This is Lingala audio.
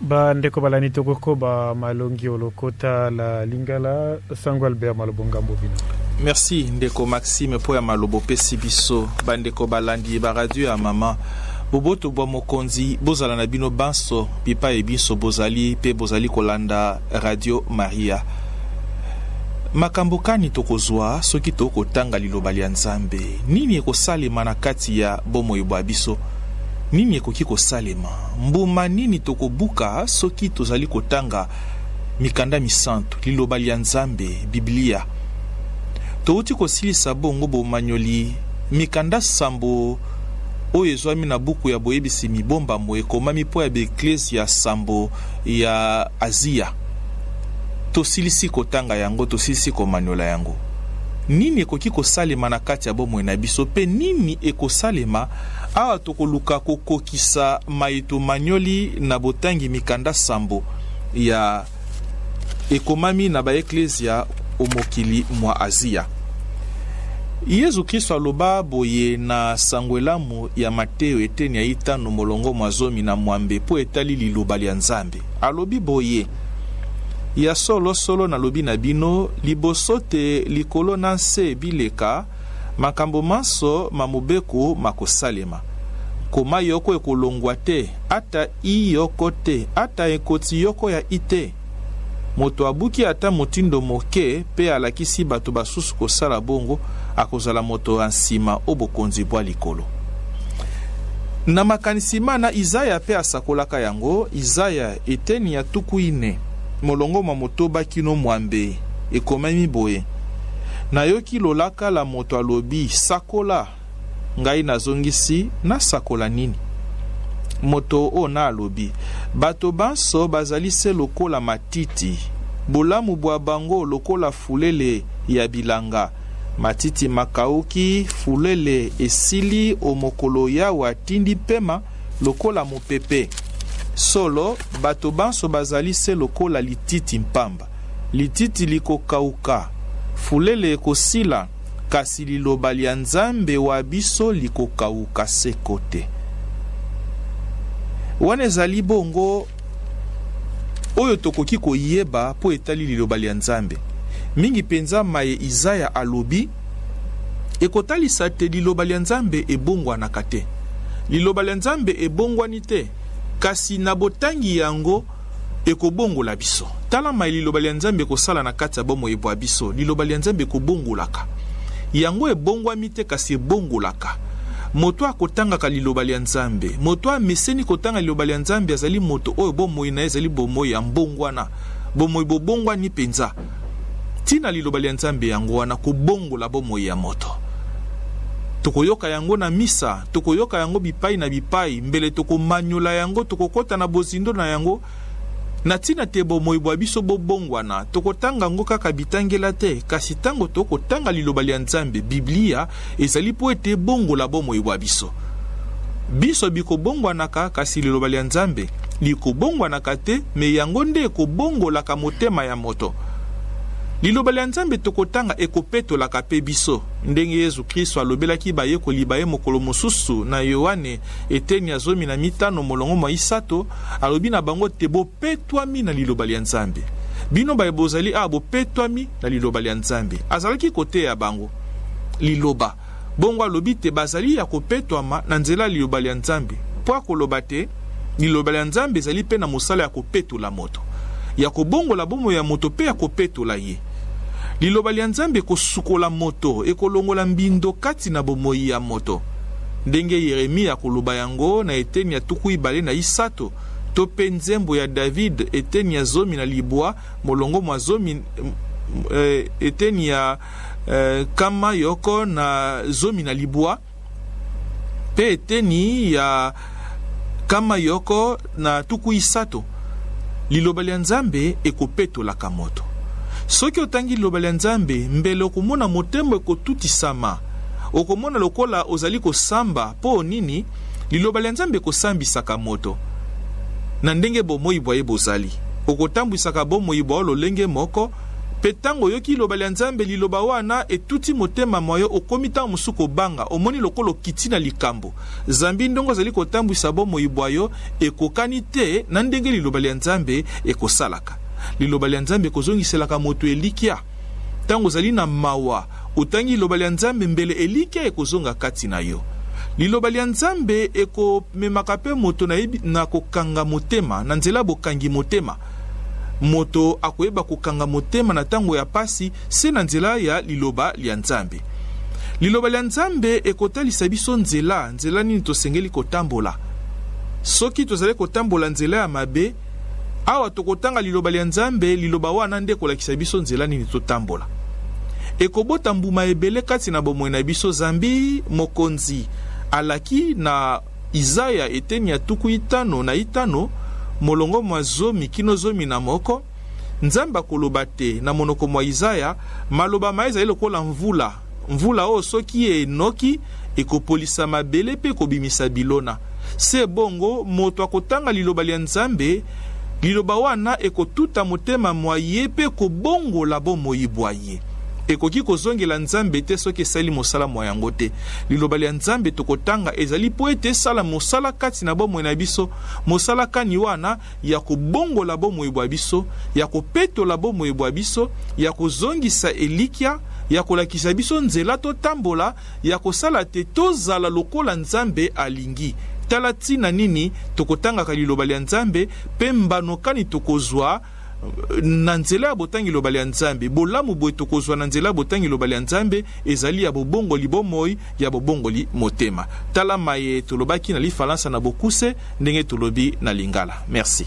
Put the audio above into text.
Ba ndeko balani tokokoba malongi o lokota la lingala sango Albert malobo ngambo bino. Merci ndeko Maxime mpo ya malobo pesi biso ba ndeko balandi ba radio ya mama boboto bwa mokonzi bozala na bino banso bipai binso bozali mpe bozali kolanda radio maria makambo kani tokozwa soki tokotanga liloba lya nzambe nini ekosalema na kati ya bomoi bwa biso nini ekoki kosalema Mbuma nini tokobuka soki tozali kotanga mikanda misantu, Liloba lia Nzambe, Biblia? Touti kosilisa bongo bomanyoli mikanda sambo oyo ezwami na buku ya boyebisi mibombamo ekomami mpo ya baeklezia sambo ya Azia. Tosilisi kotanga yango, tosilisi komanyola yango. Nini ekoki kosalema na kati ya bomoi na biso mpe nini ekosalema Awa tokoluka kokokisa mayetomanyoli na botangi mikanda sambo ya Ekomami na Baeklezia o mokili mwa Azia. Yezu Kristo aloba boye na Sango Elamu ya Mateo eteni ya itano molongo mwa zomi na mwambe mpo etali liloba lya Nzambe. Alobi boye, Ya solo solo nalobi na bino, liboso te likolo na nse bileka, Makambo manso ma mobeko makosalema, nkoma yoko ekolongwa te, ata i yoko te, ata ekoti yoko ya i te. Moto abuki ata motindo moke mpe alakisi bato basusu kosala bongo, akozala moto ya nsima o bokonzi bwa likolo. Na makanisi mana, Izaya mpe asakolaka yango, Izaya, eteni ya tuku ine, molongo mwa motoba kino mwambe, ekomemi boye. Nayoki lolaka la moto alobi, Sakola! Ngai nazongisi, Nasakola nini? Moto o na alobi, Bato banso bazali se lokola matiti, bolamu bwa bango lokola fulele ya bilanga. Matiti makauki, fulele esili o mokolo Yawe atindi pema lokola mopepe. Solo, bato banso bazali se lokola lititi mpamba. Lititi likokauka, fulele ekosila, kasi liloba lya Nzambe wa biso likokauka seko te. Wana ezali bongo, oyo tokoki koyeba mpo etali liloba lya Nzambe, mingi mpenza maye Izaya alobi, ekotalisa te liloba lya Nzambe ebongwanaka te. Liloba lya Nzambe ebongwani te, kasi na botangi yango, Ekobongola biso. Tala maye Liloba lya Nzambe ekosala na kati ya bomoi bwa biso. Liloba lya Nzambe ekobongolaka. Yango ebongwami te, kasi ebongolaka. Moto oyo akotangaka Liloba lya Nzambe, moto oyo ameseni kotanga Liloba lya Nzambe, azali moto oyo bomoi na ye ezali bomoi ya mbongwana, bomoi bobongwani mpenza. Ntina Liloba lya Nzambe yango wana kobongola bomoi ya moto. Tokoyoka yango na misa, tokoyoka yango bipai na bipai, mbele tokomanyola yango, tokokota na bozindo na yango, na ntina te bomoi bwa biso bobongwana. Tokotanga yango kaka bitangela te, kasi ntango tokotanga Liloba lya Nzambe, Biblia, Ezali mpo ete ebongola bomoi bwa biso. Biso bikobongwanaka, kasi liloba lya Nzambe likobongwanaka te, me yango nde ekobongolaka motema ya moto. Liloba lya Nzambe tokotanga ekopetolaka mpe biso, ndenge Yezu Kristo alobelaki bayekoli ba ye mokolo mosusu na Yoane, eteni ya zomi na mitano molongo mwa isato, alobi na bango te, Bo. Petwami na Liloba lya Nzambe. Bino baye bozali awa bopetwami na Liloba lya Nzambe. Azalaki koteya bango Liloba. Bongo alobi te bazali ya kopetwama na nzela ya Liloba lya Nzambe, mpo akoloba te Liloba lya Nzambe ezali mpe na mosala ya kopetola moto, ya kobongola bomoi ya moto mpe ya kopetola ye. Liloba lya Nzambe ekosukola moto, ekolongola mbindo kati na bomoi ya moto, ndenge Yeremia akoloba yango na eteni ya tuku ibale na isato. To pe nzembo ya David, eteni ya zomi na libwa, molongo mwa zomi, eh, eteni ya eh, kama yoko na zomi na libwa, pe eteni ya kama yoko na tuku isato. Liloba lya Nzambe ekopetolaka moto. Soki otangi liloba lya Nzambe, mbele okomona motema ekotutisama. Okomona lokola ozali kosamba. Po nini? Liloba lya Nzambe ekosambisaka moto na ndenge bomoi bwa ye bozali. Okotambwisaka bomoi bwa yo lolenge moko, mpe ntango oyoki Liloba lya Nzambe, Liloba wana etuti motema mwa yo, okomi ntango mosusu kobanga, omoni lokola okiti na likambo, zambi ndenge ozali kotambwisa bomoi bwa yo ekokani te na ndenge Liloba lya Nzambe ekosalaka. Liloba lya Nzambe ekozongiselaka moto elikya. Ntango ozali na mawa, otangi Liloba lya Nzambe mbele elikia ekozonga kati na yo. Liloba lya Nzambe ekomemaka mpe moto na, na kokanga motema, na nzela ya bokangi motema. Moto akoyeba kokanga motema na ntango ya mpasi se na nzela ya Liloba lya Nzambe. Liloba lya Nzambe ekotalisa biso nzela, nzela nini tosengeli kotambola. Soki tozali kotambola nzela ya mabe, Awa tokotanga Liloba lya Nzambe, Liloba wana nde ekolakisa biso nzela nini totambola. Ekobota mbuma ebele kati na bomoi na biso, zambi Mokonzi alaki na Izaya eteni ya tuku itano na itano, molongo mwa zomi kino zomi na moko, Nzambe akoloba te, na monoko mwa Izaya, maloba maye ezali lokola mvula, Mvula oyo soki enoki, ekopolisa mabele mpe ekobimisa bilona. Se bongo, moto akotanga Liloba lia Nzambe, Liloba wana ekotuta motema mwa ye mpe ekobongola bomoi bwa ye. Ekoki kozongela Nzambe te soki esali mosala mwa yango te. Liloba lia Nzambe tokotanga ezali mpo ete esala mosala kati na bomoi na biso. Mosala kani wana? ya kobongola bomoi bwa biso, ya kopetola bomoi bwa biso, ya kozongisa elikya, ya kolakisa biso nzela totambola, ya kosala te tozala lokola Nzambe alingi. Tala ntina nini tokotangaka Liloba lya Nzambe mpe mbano kani tokozwa na nzela ya botangi Liloba lya Nzambe. Bolamu boye tokozwa na nzela ya botangi Liloba lya Nzambe ezali ya bobongoli bomoi ya bobongoli motema. Tala maye tolobaki na lifalansa na bokuse ndenge tolobi na lingala. Merci.